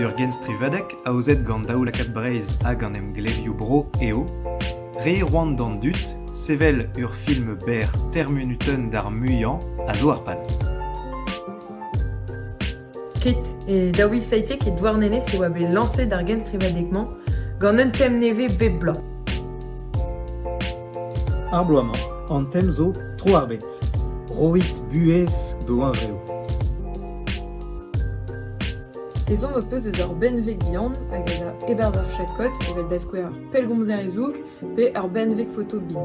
Ur genstrivadeg aozet gant Daoulakad Breizh hag an emglevioù-bro eo Re c'hoant d'an dud sevel ur film berr termunutenn d'ar muiañ a zo ar pal. Ket e Daoui Saïté, ket Douarnenez, e oa bet lañset ar genstrivadeg-mañ gant un tem nevez bep bloaz. Ar bloaz-mañ an tem zo tro ar bed. Roit buhez d'ho huñvreoù. Ezhomm ho peus eus ur benveg bihan hag a za e-barzh ar chakod evel da skouer pellgomzer e zoug pe ur benveg foto bin.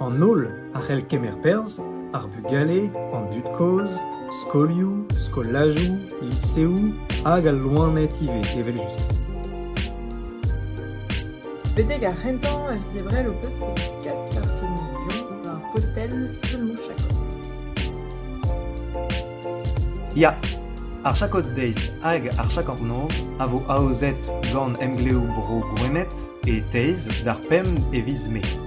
An holl a c'hell kemer perzh, ar bugale, an dud-kozh, skolioù, skolajoù, liseoù hag al loened ivez evel-just. Betek ar c'hentañ a vizebrell ho peus e kas ar filmoù war postel Filmoù-Chakot. Ya, ar Chakot Days hag ar Chakornoz a vo aozet gant Emglev Bro Gwened e Teiz d'ar pemp e viz Mae.